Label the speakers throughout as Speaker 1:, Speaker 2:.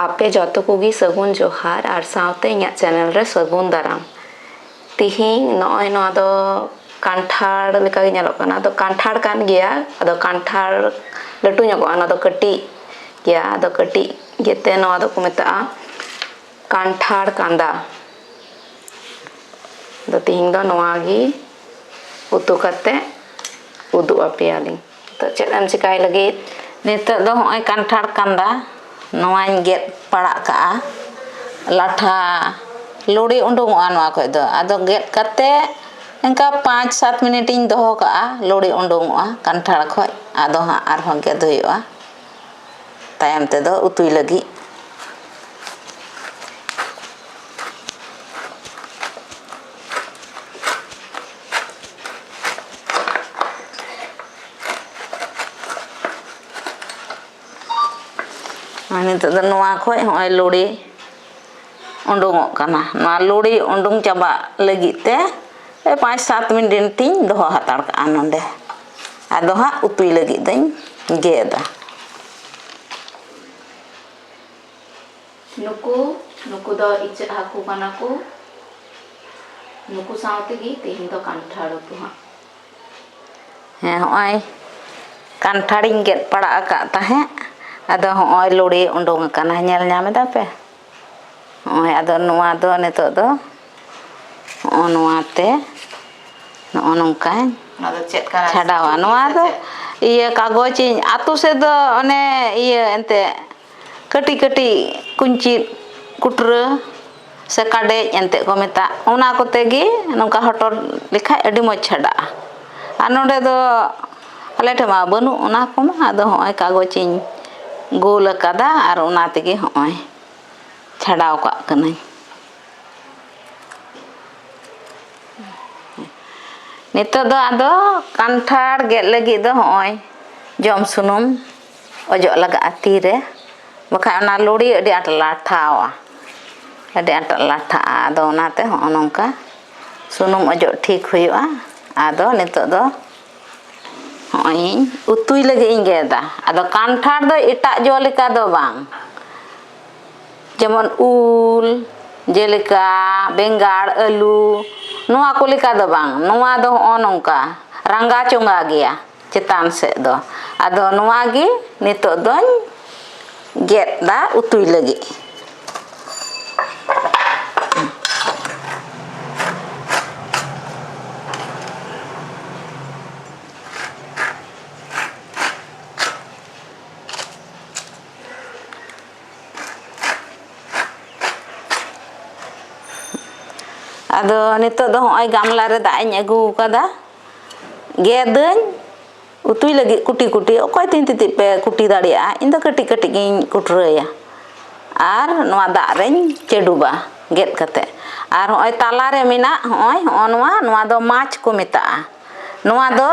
Speaker 1: ᱟᱯᱮ ᱡᱚᱛᱚ ᱠᱚᱜᱮ ᱥᱟᱹᱜᱩᱱ ᱡᱚᱦᱟᱨ ᱟᱨ ᱥᱟᱶᱛᱮ ᱤᱧᱟᱹᱜ ᱪᱮᱱᱮᱞ ᱨᱮ ᱥᱟᱹᱜᱩᱱ ᱫᱟᱨᱟᱢ ᱛᱤᱦᱤᱧ ᱱᱚᱜᱼᱚᱭ ᱱᱚᱣᱟ ᱫᱚ ᱠᱟᱱᱴᱷᱟᱲ ᱞᱮᱠᱟ ᱜᱮ ᱧᱮᱞᱚᱜ ᱠᱟᱱᱟ ᱟᱫᱚ ᱠᱟᱱᱴᱷᱟᱲ ᱠᱟᱱ ᱜᱮᱭᱟ ᱟᱫᱚ ᱠᱟᱱᱴᱷᱟᱲ ᱞᱟᱹᱴᱩ ᱧᱚᱜᱚᱜᱼᱟ ᱚᱱᱟ ᱫᱚ ᱠᱟᱹᱴᱤᱡ ᱜᱮᱭᱟ ᱟᱫᱚ ᱠᱟᱹᱴᱤᱡ ᱜᱮᱛᱮ ᱱᱚᱣᱟ ᱫᱚᱠᱚ ᱢᱮᱛᱟᱜᱼᱟ ᱠᱟᱱᱴᱷᱟᱲ ᱠᱟᱸᱫᱟ ᱟᱫᱚ ᱛᱤᱦᱤᱧ ᱫᱚ ᱱᱚᱣᱟ ᱜᱮ ᱩᱛᱩ ᱠᱟᱛᱮ ᱩᱫᱩᱜ ᱟᱯᱮᱭᱟᱞᱤᱧ ᱱᱤᱛᱚᱜ ᱪᱮᱫ ᱮᱢ ᱪᱤᱠᱟᱹᱭ ᱞᱟᱹᱜᱤᱫ ᱱᱤᱛᱚᱜ ᱫᱚ ᱱᱚᱜᱼᱚᱭ ᱠᱟᱱᱴᱷᱟᱲ ᱠᱟᱸᱫᱟ ᱱᱚᱣᱟᱧ ᱜᱮᱫ ᱯᱟᱲᱟᱜ ᱠᱟᱜᱼᱟ ᱞᱟᱴᱷᱟ ᱞᱩᱲᱤ ᱩᱰᱩᱠᱚᱜᱼᱟ ᱱᱚᱣᱟ ᱠᱷᱚᱱ ᱫᱚ ᱟᱫᱚ ᱜᱮᱫ ᱠᱟᱛᱮᱫ ᱚᱱᱠᱟ ᱯᱟᱸᱪ ᱥᱟᱛ ᱢᱤᱱᱤᱴ ᱤᱧ ᱫᱚᱦᱚ ᱠᱟᱜᱼᱟ ᱞᱩᱲᱤ ᱩᱰᱩᱠᱚᱜᱼᱟ ᱠᱟᱱᱴᱷᱟᱲ ᱠᱷᱚᱱ ᱟᱫᱚ ᱦᱟᱸᱜ ᱟᱨᱦᱚᱸ ᱜᱮᱫ ᱦᱩᱭᱩᱜᱼᱟ ᱛᱟᱭᱚᱢ ᱛᱮᱫᱚ ᱩᱛᱩᱭ ᱞᱟᱹᱜᱤᱫ ᱱᱤᱛᱚᱜ ᱫᱚ ᱱᱚᱣᱟ ᱠᱷᱚᱡ ᱦᱚᱸᱜᱼᱚᱭ ᱞᱩᱲᱤ ᱩᱰᱩᱝᱚᱜ ᱠᱟᱱᱟ ᱱᱚᱣᱟ ᱞᱩᱲᱤ ᱩᱰᱩᱝ ᱪᱟᱵᱟᱜ ᱞᱟᱹᱜᱤᱫ ᱛᱮ ᱯᱟᱸᱪ ᱥᱟᱛ ᱢᱤᱱᱤᱴ ᱤᱧ ᱫᱚᱦᱚ ᱦᱟᱛᱟᱲ ᱠᱟᱜᱼᱟ ᱱᱚᱰᱮ ᱟᱫᱚ ᱦᱟᱸᱜ ᱩᱛᱩᱭ ᱞᱟᱹᱜᱤᱫ ᱫᱚᱧ ᱜᱮᱫᱟ ᱱᱩᱠᱩ ᱱᱩᱠᱩ ᱫᱚ ᱤᱪᱟᱹᱜ ᱦᱟᱹᱠᱩ ᱠᱟᱱᱟ ᱠᱚ ᱱᱩᱠᱩ ᱥᱟᱶ ᱛᱮᱜᱮ ᱛᱮᱦᱮᱧ ᱫᱚ ᱠᱟᱱᱴᱷᱟᱲ ᱩᱛᱩ ᱦᱟᱸᱜ ᱦᱮᱸ ᱦᱚᱸᱜᱼᱚᱭ ᱠᱟᱱᱴᱷᱟᱲᱤᱧ ᱜᱮᱫ ᱯᱟᱲᱟᱜ ᱟᱠᱟᱫ ᱛᱟᱦᱮᱸᱫ ᱟᱫᱚ ᱦᱚᱸᱜᱼᱚᱭ ᱞᱩᱲᱤ ᱩᱰᱩᱝ ᱟᱠᱟᱱᱟ ᱧᱮᱞ ᱧᱟᱢ ᱮᱫᱟ ᱯᱮ ᱦᱚᱸᱜᱼᱚᱭ ᱟᱫᱚ ᱱᱚᱣᱟ ᱫᱚ ᱱᱤᱛᱚᱜ ᱫᱚ ᱦᱚᱸᱜᱼᱚ ᱱᱚᱣᱟᱛᱮ ᱱᱚᱜᱼᱚ ᱱᱚᱝᱠᱟᱧ ᱚᱱᱟ ᱫᱚ ᱪᱮᱫ ᱠᱟᱱᱟ ᱪᱷᱟᱰᱟᱣᱟ ᱱᱚᱣᱟ ᱫᱚ ᱤᱭᱟᱹ ᱠᱟᱜᱚᱡᱽ ᱤᱧ ᱟᱛᱳ ᱥᱮᱫ ᱫᱚ ᱚᱱᱮ ᱤᱭᱟᱹ ᱮᱱᱛᱮᱫ ᱠᱟᱹᱴᱤᱡ ᱠᱟᱹᱴᱤᱡ ᱠᱩᱧᱪᱤᱜ ᱠᱩᱴᱨᱟᱹ ᱥᱮ ᱠᱟᱰᱮᱡ ᱮᱱᱛᱮᱜ ᱠᱚ ᱢᱮᱛᱟᱜ ᱚᱱᱟ ᱠᱚᱛᱮ ᱜᱮ ᱱᱚᱝᱠᱟ ᱦᱚᱴᱚᱨ ᱞᱮᱠᱷᱟᱡ ᱟᱹᱰᱤ ᱢᱚᱡᱽ ᱪᱷᱟᱰᱟᱜᱼᱟ ᱟᱨ ᱱᱚᱰᱮ ᱫᱚ ᱟᱞᱮ ᱴᱷᱮᱱ ᱢᱟ ᱵᱟᱹᱱᱩᱜ ᱚᱱᱟ ᱠᱚᱢᱟ ᱟᱫᱚ ᱦᱚᱸᱜᱼᱚᱭ ᱠᱟᱜᱚᱡᱽ ᱤᱧ ᱜᱳᱞ ᱠᱟᱫᱟ ᱟᱨ ᱚᱱᱟ ᱛᱮᱜᱮ ᱦᱚᱸᱜᱼᱚᱭ ᱪᱷᱟᱰᱟᱣ ᱠᱟᱜ ᱠᱟᱹᱱᱟᱹᱧ ᱱᱤᱛᱚᱜ ᱫᱚ ᱟᱫᱚ ᱠᱟᱱᱴᱷᱟᱲ ᱜᱮᱫ ᱞᱟᱹᱜᱤᱫ ᱫᱚ ᱦᱚᱸᱜᱼᱚᱭ ᱡᱚᱢ ᱥᱩᱱᱩᱢ ᱚᱡᱚᱜ ᱞᱟᱜᱟᱜᱼᱟ ᱛᱤᱨᱮ ᱵᱟᱠᱷᱟᱡ ᱚᱱᱟ ᱞᱩᱲᱤ ᱟᱹᱰᱤ ᱟᱸᱴ ᱞᱟᱴᱷᱟᱜᱼᱟ ᱟᱹᱰᱤ ᱟᱸᱴ ᱞᱟᱴᱷᱟᱜᱼᱟ ᱟᱫᱚ ᱚᱱᱟᱛᱮ ᱦᱚᱸᱜᱼᱚ ᱱᱚᱝᱠᱟ ᱥᱩᱱᱩᱢ ᱚᱡᱚᱜ ᱴᱷᱤᱠ ᱦᱩᱭᱩᱜᱼᱟ ᱟᱫᱚ ᱱᱤᱛᱚᱜ ᱫᱚ ᱦᱚᱸᱜᱼᱚᱭ ᱤᱧ ᱩᱛᱩᱭ ᱞᱟᱹᱜᱤᱫ ᱤᱧ ᱜᱮᱫᱟ ᱟᱫᱚ ᱠᱟᱱᱴᱷᱟᱲ ᱫᱚ ᱮᱴᱟᱜ ᱡᱚ ᱞᱮᱠᱟ ᱫᱚ ᱵᱟᱝ ᱡᱮᱢᱚᱱ ᱩᱞ ᱡᱮᱞᱮᱠᱟ ᱵᱮᱸᱜᱟᱲ ᱟᱹᱞᱩ ᱱᱚᱣᱟ ᱠᱚ ᱞᱮᱠᱟ ᱫᱚ ᱵᱟᱝ ᱱᱚᱣᱟ ᱫᱚ ᱦᱚᱸᱜᱼᱚ ᱱᱚᱝᱠᱟ ᱨᱟᱝᱜᱟ ᱪᱚᱸᱜᱟ ᱜᱮᱭᱟ ᱪᱮᱛᱟᱱ ᱥᱮᱫ ᱫᱚ ᱟᱫᱚ ᱱᱚᱣᱟ ᱜᱮ ᱱᱤᱛᱚᱜ ᱫᱚᱧ ᱜᱮᱫ ᱫᱟ ᱩᱛᱩᱭ ᱞᱟᱹᱜᱤᱫ ᱟᱫᱚ ᱱᱤᱛᱚᱜ ᱫᱚ ᱦᱚᱸᱜᱼᱚᱭ ᱜᱟᱢᱞᱟ ᱨᱮ ᱫᱟᱜ ᱤᱧ ᱟᱹᱜᱩ ᱟᱠᱟᱫᱟ ᱜᱮᱫᱟᱹᱧ ᱩᱛᱩᱭ ᱞᱟᱹᱜᱤᱫ ᱠᱩᱴᱤ ᱠᱩᱴᱤ ᱚᱠᱚᱭ ᱛᱤᱱ ᱛᱤᱛᱤᱡ ᱯᱮ ᱠᱩᱴᱤ ᱫᱟᱲᱮᱭᱟᱜᱼᱟ ᱤᱧ ᱫᱚ ᱠᱟᱹᱴᱤᱡ ᱠᱟᱹᱴᱤᱡ ᱜᱤᱧ ᱠᱩᱴᱨᱟᱹᱭᱟ ᱟᱨ ᱱᱚᱣᱟ ᱫᱟᱜ ᱨᱤᱧ ᱪᱟᱹᱰᱩᱵᱟ ᱜᱮᱫ ᱠᱟᱛᱮ ᱟᱨ ᱦᱚᱸᱜᱼᱚᱭ ᱛᱟᱞᱟ ᱨᱮ ᱢᱮᱱᱟᱜ ᱦᱚᱸᱜᱼᱚᱭ ᱦᱚᱸᱜᱼᱚ ᱱᱚᱣᱟ ᱱᱚᱣᱟ ᱫᱚ ᱢᱟᱪ ᱠᱚ ᱢᱮᱛᱟᱜᱼᱟ ᱱᱚᱣᱟ ᱫᱚ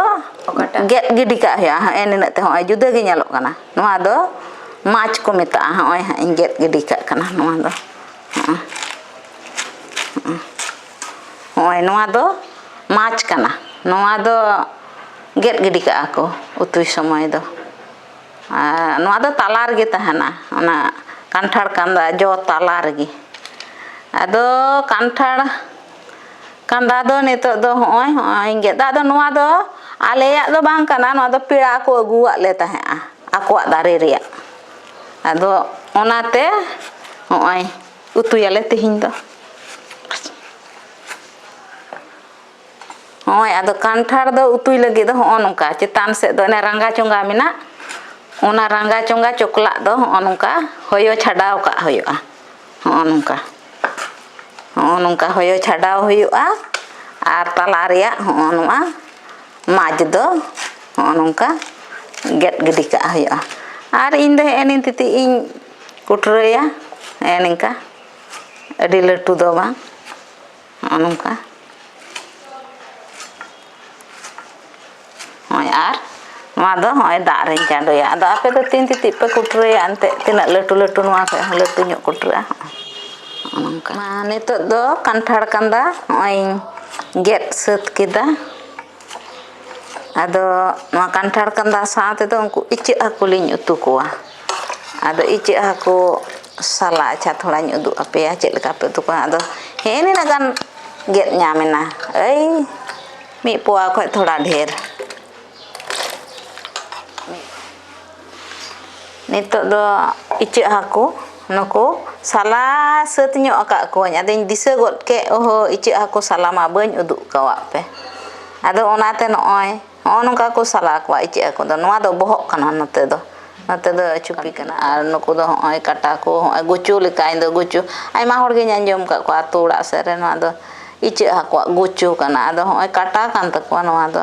Speaker 1: ᱜᱮᱫ ᱜᱤᱰᱤ ᱠᱟᱜ ᱦᱩᱭᱩᱜᱼᱟ ᱦᱮᱸᱜ ᱮ ᱱᱤᱱᱟᱹᱜ ᱛᱮ ᱦᱚᱸᱜᱼᱚᱭ ᱡᱩᱫᱟᱹ ᱜᱮ ᱧᱮᱞᱚᱜ ᱠᱟᱱᱟ ᱱᱚᱣᱟ ᱫᱚ ᱢᱟᱪ ᱠᱚ ᱢᱮᱛᱟᱜᱼᱟ ᱦᱚᱸᱜᱼᱚᱭ ᱦᱟᱸᱜ ᱤᱧ ᱜᱮᱫ ᱜᱤᱰᱤ ᱠᱟᱜ ᱠᱟᱱᱟ ᱱᱚᱣᱟ ᱫᱚ ᱦᱚᱸᱜᱼᱚᱭ ᱦᱚᱸᱜᱼᱚᱭ ᱦᱚᱜᱼᱚᱭ ᱱᱚᱣᱟ ᱫᱚ ᱢᱟᱪ ᱠᱟᱱᱟ ᱱᱚᱣᱟ ᱫᱚ ᱜᱮᱫ ᱜᱤᱰᱤ ᱠᱟᱜᱼᱟ ᱠᱚ ᱩᱛᱩᱭ ᱥᱚᱢᱚᱭ ᱫᱚ ᱟᱨ ᱱᱚᱣᱟ ᱫᱚ ᱛᱟᱞᱟ ᱨᱮᱜᱮ ᱛᱟᱦᱮᱱᱟ ᱚᱱᱟ ᱠᱟᱱᱴᱷᱟᱲ ᱠᱟᱸᱫᱟ ᱡᱚ ᱛᱟᱞᱟ ᱨᱮᱜᱮ ᱟᱫᱚ ᱠᱟᱱᱴᱷᱟᱲ ᱠᱟᱸᱫᱟ ᱫᱚ ᱱᱤᱛᱚᱜ ᱫᱚ ᱦᱚᱜᱼᱚᱭ ᱦᱚᱜᱼᱚᱭ ᱜᱮᱫ ᱫᱟ ᱟᱫᱚ ᱱᱚᱣᱟ ᱫᱚ ᱟᱞᱮᱭᱟᱜ ᱫᱚ ᱵᱟᱝ ᱠᱟᱱᱟ ᱱᱚᱣᱟ ᱫᱚ ᱯᱮᱲᱟ ᱠᱚ ᱟᱹᱜᱩᱣᱟᱜ ᱞᱮ ᱛᱟᱦᱮᱸᱜᱼᱟ ᱟᱠᱚᱣᱟᱜ ᱫᱟᱨᱮ ᱨᱮᱭᱟᱜ ᱟᱫᱚ ᱚᱱᱟᱛᱮ ᱦᱚᱜᱼᱚᱭ ᱩᱛᱩᱭᱟᱞᱮ ᱛᱮᱦᱮᱧ ᱫᱚ ᱦᱚᱸᱜᱼᱚᱭ ᱟᱫᱚ ᱠᱟᱱᱴᱷᱟᱲ ᱫᱚ ᱩᱛᱩᱭ ᱞᱟᱹᱜᱤᱫ ᱫᱚ ᱦᱚᱸᱜᱼᱚ ᱱᱚᱝᱠᱟ ᱪᱮᱛᱟᱱ ᱥᱮᱫ ᱫᱚ ᱚᱱᱮ ᱨᱟᱸᱜᱟ ᱪᱚᱸᱜᱟ ᱢᱮᱱᱟᱜ ᱚᱱᱟ ᱨᱟᱸᱜᱟ ᱪᱚᱸᱜᱟ ᱪᱚᱠᱞᱟᱜ ᱫᱚ ᱦᱚᱸᱜᱼᱚ ᱱᱚᱝᱠᱟ ᱦᱚᱭᱚ ᱪᱷᱟᱰᱟᱣ ᱠᱟᱜ ᱦᱩᱭᱩᱜᱼᱟ ᱦᱚᱸᱜᱼᱚ ᱱᱚᱝᱠᱟ ᱦᱚᱸᱜᱼᱚ ᱱᱚᱝᱠᱟ ᱦᱚᱭᱚ ᱪᱷᱟᱰᱟᱣ ᱦᱩᱭᱩᱜᱼᱟ ᱟᱨ ᱛᱟᱞᱟ ᱨᱮᱭᱟᱜ ᱦᱚᱸᱜᱼᱚ ᱱᱚᱣᱟ ᱢᱟᱡᱽ ᱫᱚ ᱦᱚᱸᱜᱼᱚ ᱱᱚᱝᱠᱟ ᱜᱮᱫ ᱜᱤᱰᱤ ᱠᱟᱜ ᱦᱩᱭᱩᱜᱼᱟ ᱟᱨ ᱤᱧ ᱫᱚ ᱦᱮᱸᱜᱼᱮ ᱱᱤᱭᱟᱹ ᱛᱤᱛᱤᱡ ᱤᱧ ᱠᱩᱴᱨᱟᱹᱭᱟ ᱱᱮᱜᱼᱮ ᱱᱤᱝᱠᱟ ᱟᱹᱰᱤ ᱞᱟᱹᱴᱩ ᱫᱚ ᱵᱟᱝ ᱱᱚᱜᱼᱚ ᱱᱚᱝᱠᱟ ᱱᱚᱜᱼᱚᱭ ᱟᱨ ᱱᱚᱣᱟ ᱫᱚ ᱱᱚᱜᱼᱚᱭ ᱫᱟᱜ ᱨᱤᱧ ᱪᱟᱰᱚᱭᱟ ᱟᱫᱚ ᱟᱯᱮ ᱫᱚ ᱛᱤᱱ ᱛᱤᱛᱤᱡ ᱯᱮ ᱠᱩᱴᱨᱟᱹᱭᱟ ᱮᱱᱛᱮᱫ ᱛᱤᱱᱟᱹᱜ ᱞᱟᱹᱴᱩ ᱞᱟᱹᱴᱩ ᱱᱚᱣᱟ ᱠᱷᱚᱱ ᱦᱚᱸ ᱞᱟᱹᱴᱩ ᱧᱚᱜ ᱠᱩᱴᱨᱟᱹᱜᱼᱟ ᱱᱚᱜᱼᱚ ᱱᱚᱝᱠᱟ ᱱᱤᱛᱚᱜ ᱫᱚ ᱠᱟᱱᱴᱷᱟᱲ ᱠᱟᱸᱫᱟ ᱱᱚᱜᱼᱚᱭ ᱤᱧ ᱜᱮᱫ ᱥᱟᱹᱛ ᱠᱮᱫᱟ ᱟᱫᱚ ᱱᱚᱣᱟ ᱠᱟᱱᱴᱷᱟᱲ ᱠᱟᱸᱫᱷᱟ ᱥᱟᱶ ᱛᱮᱫᱚ ᱩᱱᱠᱩ ᱤᱪᱟᱹᱜ ᱦᱟᱹᱠᱩ ᱞᱤᱧ ᱩᱛᱩ ᱠᱚᱣᱟ ᱟᱫᱚ ᱤᱪᱟᱹᱜ ᱦᱟᱹᱠᱩ ᱥᱟᱞᱟ ᱟᱪᱪᱷᱟ ᱛᱷᱚᱲᱟᱧ ᱩᱫᱩᱜ ᱟᱯᱮᱭᱟ ᱪᱮᱫ ᱞᱮᱠᱟ ᱯᱮ ᱩᱛᱩ ᱠᱚᱣᱟ ᱟᱫᱚ ᱦᱮᱸ ᱱᱤᱱᱟᱹᱜ ᱜᱟᱱ ᱜᱮᱫ ᱧᱟᱢ ᱮᱱᱟ ᱳᱭ ᱢᱤᱫ ᱯᱳᱣᱟ ᱠᱷᱚᱱ ᱛᱷᱚᱲᱟ ᱰᱷᱮᱨ ᱱᱤᱛᱚᱜ ᱫᱚ ᱤᱪᱟᱹᱜ ᱦᱟᱹᱠᱩ ᱱᱩᱠᱩ ᱥᱟᱞᱟ ᱥᱟᱹᱛ ᱧᱚᱜ ᱟᱠᱟᱫ ᱠᱚᱣᱟᱹᱧ ᱟᱫᱚᱧ ᱫᱤᱥᱟᱹ ᱜᱚᱫ ᱠᱮᱫ ᱚᱦᱳ ᱤᱪᱟᱹᱜ ᱦᱟᱹᱠᱩ ᱥᱟᱞᱟ ᱢᱟ ᱵᱟᱹᱧ ᱩᱫᱩᱜ ᱟᱠᱟᱫ ᱯᱮ ᱟᱫᱚ ᱚᱱᱟᱛᱮ ᱱᱚᱜᱼᱚᱭ ᱱᱚᱜᱼᱚ ᱱᱚᱝᱠᱟ ᱠᱚ ᱥᱟᱞᱟ ᱠᱚᱣᱟ ᱤᱪᱟᱹᱜ ᱦᱟᱹᱠᱩ ᱫᱚ ᱱᱚᱣᱟ ᱫᱚ ᱵᱚᱦᱚᱜ ᱠᱟᱱᱟ ᱱᱚᱛᱮ ᱫᱚ ᱱᱚᱛᱮ ᱫᱚ ᱪᱩᱯᱤ ᱠᱟᱱᱟ ᱟᱨ ᱱᱩᱠᱩ ᱫᱚ ᱱᱚᱜᱼᱚᱭ ᱠᱟᱴᱟ ᱠᱚ ᱱᱚᱜᱼᱚᱭ ᱜᱩᱪᱩ ᱞᱮᱠᱟ ᱤᱧᱫᱚ ᱜᱩᱪᱩ ᱟᱭᱢᱟ ᱦᱚᱲ ᱜᱤᱧ ᱟᱸᱡᱚᱢ ᱟᱠᱟᱫ ᱠᱚᱣᱟ ᱟᱹᱛᱩ ᱚᱲᱟᱜ ᱥᱮᱫ ᱨᱮ ᱱᱚᱣᱟ ᱫᱚ ᱤᱪᱟᱹᱜ ᱦᱟᱹᱠᱩᱣᱟᱜ ᱜᱩᱪᱩ ᱠᱟᱱᱟ ᱟᱫᱚ ᱱᱚᱜᱼᱚᱭ ᱠᱟᱴᱟ ᱠᱟᱱ ᱛᱟᱠᱚᱣᱟ ᱱᱚᱣᱟ ᱫᱚ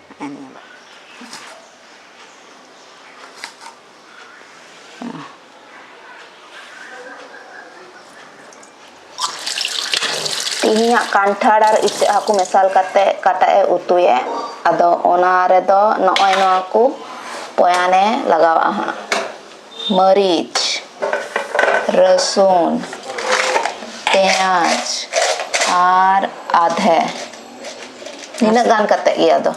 Speaker 1: ᱛᱮᱦᱮᱧᱟᱜ ᱠᱟᱱᱴᱷᱟᱲ ᱟᱨ ᱤᱪᱟᱹᱜ ᱦᱟᱹᱠᱩ ᱢᱮᱥᱟᱞ ᱠᱟᱛᱮ ᱠᱟᱴᱟᱜ ᱮ ᱩᱛᱩᱭᱟ ᱟᱫᱚ ᱚᱱᱟ ᱨᱮᱫᱚ ᱱᱚᱜᱼᱚᱭ ᱱᱚᱣᱟ ᱠᱚ ᱯᱚᱭᱟᱱᱮ ᱞᱟᱜᱟᱣᱟᱜᱼᱟ ᱦᱟᱸᱜ ᱢᱟᱹᱨᱤᱪ ᱨᱟᱹᱥᱩᱱ ᱯᱮᱸᱭᱟᱡᱽ ᱟᱨ ᱟᱫᱷᱮ ᱱᱤᱱᱟᱹᱜ ᱜᱟᱱ ᱠᱟᱛᱮ ᱜᱮ ᱟᱫᱚ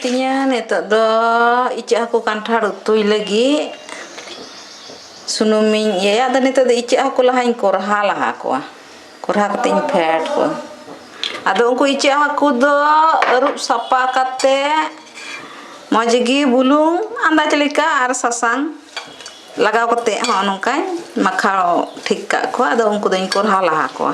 Speaker 1: ᱛᱤᱧᱟ ᱱᱤᱛᱚᱜ ᱫᱚ ᱤᱪᱟᱹᱜ ᱦᱟᱹᱠᱩ ᱠᱟᱱᱴᱷᱟᱲ ᱩᱛᱩᱭ ᱞᱟᱹᱜᱤᱫ ᱥᱩᱱᱩᱢᱤᱧ ᱤᱭᱟᱹᱭᱟ ᱟᱫᱚ ᱱᱤᱛᱚᱜ ᱫᱚ ᱤᱪᱟᱹᱜ ᱦᱟᱹᱠᱩ ᱞᱟᱦᱟᱧ ᱠᱚᱨᱦᱟ ᱞᱟᱦᱟ ᱠᱚᱣᱟ ᱠᱚᱨᱦᱟ ᱠᱟᱛᱮ ᱤᱧ ᱯᱷᱮᱰ ᱠᱚᱣᱟ ᱟᱫᱚ ᱩᱱᱠᱩ ᱤᱪᱟᱹᱜ ᱦᱟᱹᱠᱩ ᱫᱚ ᱟᱹᱨᱩᱵ ᱥᱟᱯᱷᱟ ᱠᱟᱛᱮ ᱢᱚᱡᱽ ᱜᱮ ᱵᱩᱞᱩᱝ ᱟᱱᱫᱟᱡᱽ ᱞᱮᱠᱟ ᱟᱨ ᱥᱟᱥᱟᱝ ᱞᱟᱜᱟᱣ ᱠᱟᱛᱮ ᱦᱚᱸᱜᱼᱚ ᱱᱚᱝᱠᱟᱧ ᱢᱟᱠᱷᱟᱣ ᱴᱷᱤᱠ ᱠᱟᱜ ᱠᱚᱣᱟ ᱟᱫᱚ ᱩᱱᱠᱩ ᱫᱚᱧ ᱠᱚᱨᱦᱟ ᱞᱟᱦᱟ ᱠᱚᱣᱟ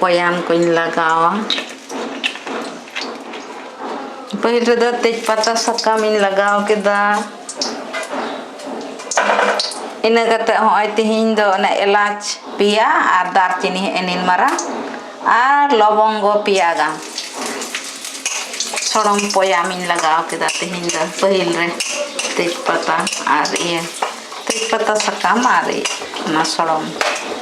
Speaker 1: ᱯᱚᱭᱟᱱ ᱠᱚᱧ ᱞᱟᱜᱟᱣᱟ ᱯᱟᱹᱦᱤᱞ ᱨᱮᱫᱚ ᱛᱮᱡᱽ ᱯᱟᱛᱟ ᱥᱟᱠᱟᱢ ᱤᱧ ᱞᱟᱜᱟᱣ ᱠᱮᱫᱟ ᱤᱱᱟᱹ ᱠᱟᱛᱮ ᱦᱚᱸᱜᱼᱚᱭ ᱛᱤᱦᱤᱧ ᱫᱚ ᱚᱱᱮ ᱮᱞᱟᱪ ᱯᱮᱭᱟ ᱟᱨ ᱫᱟᱨᱪᱤᱱᱤ ᱦᱮᱸᱜᱼᱮ ᱱᱤᱱ ᱢᱟᱨᱟᱝ ᱟᱨ ᱞᱚᱵᱚᱝᱜᱚ ᱯᱮᱭᱟ ᱜᱟᱱ ᱥᱚᱲᱚᱢ ᱯᱚᱭᱟᱢᱤᱧ ᱞᱟᱜᱟᱣ ᱠᱮᱫᱟ ᱛᱤᱦᱤᱧ ᱫᱚ ᱯᱟᱹᱦᱤᱞ ᱨᱮ ᱛᱮᱡᱽ ᱯᱟᱛᱟ ᱟᱨ ᱤᱭᱟᱹ ᱛᱮᱡᱽ ᱯᱟᱛᱟ ᱥᱟᱠᱟᱢ ᱟᱨ ᱚᱱᱟ ᱥᱚᱲᱚᱢ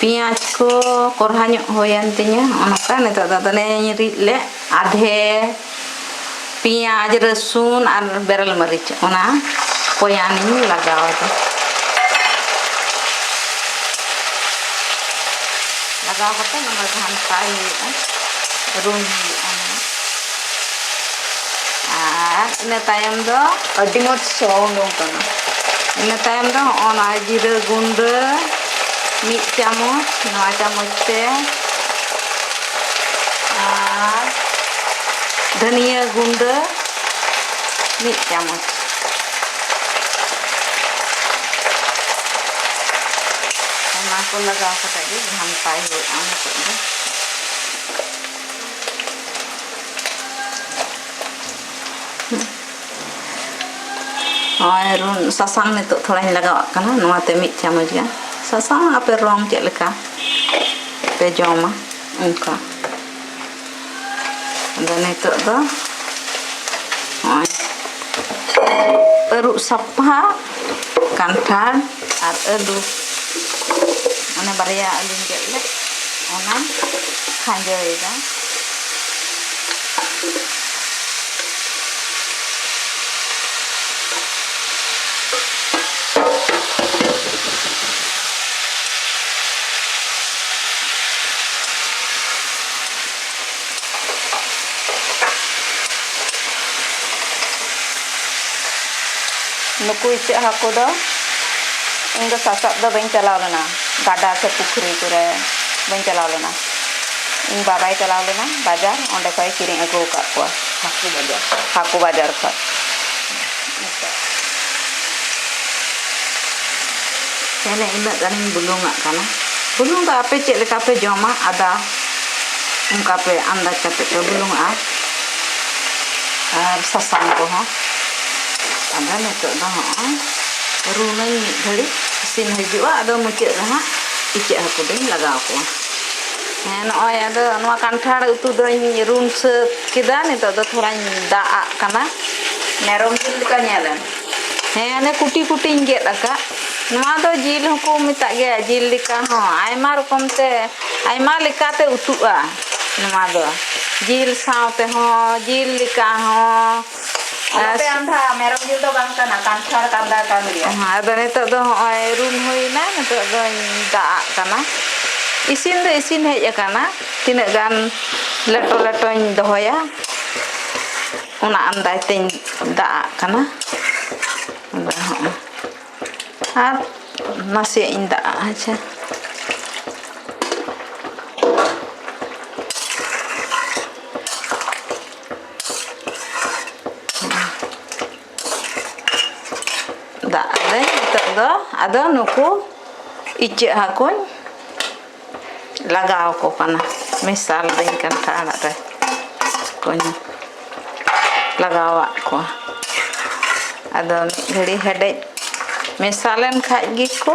Speaker 1: ᱯᱮᱸᱭᱟᱡᱽ ᱠᱚ ᱠᱚᱨᱦᱟ ᱧᱚᱜ ᱦᱩᱭᱮᱱ ᱛᱤᱧᱟᱹ ᱚᱱᱟᱛᱮ ᱱᱤᱛᱚᱜ ᱫᱚ ᱟᱫᱚᱧ ᱨᱤᱫ ᱞᱮᱫ ᱟᱫᱷᱮ ᱯᱮᱸᱭᱟᱡᱽ ᱨᱟᱹᱥᱩᱱ ᱟᱨ ᱵᱮᱨᱮᱞ ᱢᱟᱹᱨᱤᱪ ᱚᱱᱟ ᱠᱚᱭᱟᱱᱤᱧ ᱞᱟᱜᱟᱣ ᱟᱫᱟ ᱞᱟᱜᱟᱣ ᱠᱟᱛᱮᱫ ᱱᱚᱣᱟ ᱜᱷᱟᱱᱴᱟᱭ ᱦᱩᱭᱩᱜᱼᱟ ᱨᱩᱱ ᱦᱩᱭᱩᱜᱼᱟ ᱱᱚᱣᱟ ᱟᱨ ᱤᱱᱟᱹ ᱛᱟᱭᱚᱢ ᱫᱚ ᱟᱹᱰᱤ ᱢᱚᱡᱽ ᱥᱚ ᱩᱰᱩᱝ ᱠᱟᱱᱟ ᱤᱱᱟᱹ ᱛᱟᱭᱚᱢ ᱫᱚ ᱦᱚᱸᱜᱼᱚ ᱱᱚᱣᱟ ᱡᱤᱨᱟᱹ ᱜᱩᱸᱰᱟᱹ ᱢᱤᱫ ᱪᱟᱢᱚᱪ ᱱᱚᱣᱟ ᱪᱟᱢᱚᱪ ᱛᱮ ᱟᱨ ᱫᱷᱟᱹᱱᱤᱭᱟᱹ ᱜᱩᱸᱰᱟᱹ ᱢᱤᱫ ᱪᱟᱢᱚᱪ ᱚᱱᱟ ᱠᱚ ᱞᱟᱜᱟᱣ ᱠᱟᱛᱮ ᱜᱮ ᱜᱷᱟᱱᱴᱟᱭ ᱦᱩᱭᱩᱜᱼᱟ ᱱᱤᱛᱚᱜ ᱫᱚ ᱱᱚᱜᱼᱚᱭ ᱨᱩᱱ ᱥᱟᱥᱟᱝ ᱱᱤᱛᱚᱜ ᱛᱷᱚᱲᱟᱧ ᱞᱟᱜᱟᱣᱟᱜ ᱠᱟᱱᱟ ᱱᱚᱣᱟᱛᱮ ᱢᱤᱫ ᱪᱟᱢᱚᱪ ᱜᱟᱱ ᱥᱟᱥᱟᱝ ᱟᱯᱮ ᱨᱚᱝ ᱪᱮᱫ ᱞᱮᱠᱟ ᱯᱮ ᱡᱚᱢᱟ ᱚᱱᱠᱟ ᱟᱫᱚ ᱱᱤᱛᱚᱜ ᱫᱚ ᱱᱚᱜᱼᱚᱭ ᱟᱹᱨᱩᱵ ᱥᱟᱯᱷᱟ ᱠᱟᱱᱴᱷᱟᱲ ᱟᱨ ᱟᱹᱞᱩ ᱚᱱᱟ ᱵᱟᱨᱭᱟ ᱟᱹᱞᱩᱧ ᱜᱮᱫ ᱞᱮᱫ ᱚᱱᱟᱧ ᱠᱷᱟᱸᱡᱚᱭᱮᱫᱟ ᱱᱩᱠᱩ ᱤᱪᱟᱹᱜ ᱦᱟᱹᱠᱩ ᱫᱚ ᱤᱧ ᱫᱚ ᱥᱟᱥᱟᱵ ᱫᱚ ᱵᱟᱹᱧ ᱪᱟᱞᱟᱣ ᱞᱮᱱᱟ ᱜᱟᱰᱟ ᱥᱮ ᱯᱩᱠᱷᱨᱤ ᱠᱚᱨᱮ ᱵᱟᱹᱧ ᱪᱟᱞᱟᱣ ᱞᱮᱱᱟ ᱤᱧ ᱵᱟᱵᱟᱭ ᱪᱟᱞᱟᱣ ᱞᱮᱱᱟ ᱵᱟᱡᱟᱨ ᱚᱸᱰᱮ ᱠᱷᱚᱡ ᱮ ᱠᱤᱨᱤᱧ ᱟᱹᱜᱩ ᱠᱟᱜ ᱠᱚᱣᱟ ᱦᱟᱹᱠᱩ ᱵᱟᱡᱟᱨ ᱠᱷᱚᱡ ᱛᱟᱦᱚᱞᱮ ᱤᱱᱟᱹᱜ ᱜᱟᱱᱤᱧ ᱵᱩᱞᱩᱝ ᱟᱜ ᱠᱟᱱᱟ ᱵᱩᱞᱩᱝ ᱫᱚ ᱟᱯᱮ ᱪᱮᱫ ᱞᱮᱠᱟ ᱯᱮ ᱡᱚᱢᱟ ᱟᱫᱟ ᱚᱱᱠᱟ ᱯᱮ ᱟᱱᱫᱟᱡᱽ ᱠᱟᱛᱮ ᱯᱮ ᱵᱩᱞᱩᱝ ᱟᱜᱼᱟ ᱟᱨ ᱥᱟᱥᱟᱝ ᱠᱚᱦᱚᱸ ᱟᱫᱚ ᱱᱤᱛᱚᱜ ᱫᱚ ᱦᱚᱸᱜᱼᱚᱭ ᱨᱩᱱᱟᱹᱧ ᱢᱤᱫ ᱜᱷᱟᱹᱲᱤᱡ ᱤᱥᱤᱱ ᱦᱤᱡᱩᱜᱼᱟ ᱟᱫᱚ ᱢᱩᱪᱟᱹᱫ ᱨᱮ ᱦᱟᱸᱜ ᱤᱪᱟᱹᱜ ᱦᱟᱹᱠᱩ ᱫᱚᱧ ᱞᱟᱜᱟᱣ ᱠᱚᱣᱟ ᱦᱮᱸ ᱱᱚᱜᱼᱚᱭ ᱟᱫᱚ ᱱᱚᱣᱟ ᱠᱟᱱᱴᱷᱟᱲ ᱩᱛᱩ ᱫᱚᱧ ᱨᱩᱱ ᱥᱟᱹᱛ ᱠᱮᱫᱟ ᱱᱤᱛᱚᱜ ᱫᱚ ᱛᱷᱚᱲᱟᱧ ᱫᱟᱜ ᱟᱜ ᱠᱟᱱᱟ ᱢᱮᱨᱚᱢ ᱡᱤᱞ ᱞᱮᱠᱟ ᱧᱮᱞᱮᱱ ᱦᱮᱸ ᱚᱱᱮ ᱠᱩᱴᱤ ᱠᱩᱴᱤᱧ ᱜᱮᱫ ᱟᱠᱟᱫ ᱱᱚᱣᱟ ᱫᱚ ᱡᱤᱞ ᱦᱚᱸᱠᱚ ᱢᱮᱛᱟᱜ ᱜᱮᱭᱟ ᱡᱤᱞ ᱞᱮᱠᱟ ᱦᱚᱸ ᱟᱭᱢᱟ ᱨᱚᱠᱚᱢ ᱛᱮ ᱟᱭᱢᱟ ᱞᱮᱠᱟᱛᱮ ᱩᱛᱩᱜᱼᱟ ᱱᱚᱣᱟ ᱫᱚ ᱡᱤᱞ ᱥᱟᱶ ᱛᱮᱦᱚᱸ ᱡᱤᱞ ᱞᱮᱠᱟ ᱦᱚᱸ ᱟᱫᱚ ᱱᱤᱛᱚᱜ ᱫᱚ ᱦᱚᱸᱜᱼᱚᱭ ᱨᱩᱞ ᱦᱩᱭᱱᱟ ᱱᱤᱛᱚᱜ ᱫᱚᱧ ᱫᱟᱜ ᱟᱜ ᱠᱟᱱᱟ ᱤᱥᱤᱱ ᱫᱚ ᱤᱥᱤᱱ ᱦᱮᱡ ᱟᱠᱟᱱᱟ ᱛᱤᱱᱟᱹᱜ ᱜᱟᱱ ᱞᱮᱴᱚ ᱞᱮᱴᱚᱧ ᱫᱚᱦᱚᱭᱟ ᱚᱱᱟ ᱟᱱᱫᱟᱡ ᱛᱮᱧ ᱫᱟᱜ ᱟᱜ ᱠᱟᱱᱟ ᱟᱨ ᱱᱟᱥᱮᱭᱟᱜ ᱤᱧ ᱫᱟᱜ ᱟᱜᱼᱟ ᱦᱮᱸᱥᱮ ᱫᱟᱜ ᱟᱫᱟᱹᱧ ᱱᱤᱛᱚᱜ ᱫᱚ ᱟᱫᱚ ᱱᱩᱠᱩ ᱤᱪᱟᱹᱜ ᱦᱟᱹᱠᱩᱧ ᱞᱟᱜᱟᱣ ᱠᱚ ᱠᱟᱱᱟ ᱢᱮᱥᱟᱞ ᱫᱟᱹᱧ ᱠᱟᱱᱛᱷᱟ ᱟᱲᱟᱜ ᱨᱮ ᱠᱚᱧ ᱞᱟᱜᱟᱣᱟᱜ ᱠᱚᱣᱟ ᱟᱫᱚ ᱢᱤᱫ ᱜᱷᱟᱹᱲᱤ ᱦᱮᱰᱮᱡ ᱢᱮᱥᱟ ᱞᱮᱱ ᱠᱷᱟᱡ ᱜᱮᱠᱚ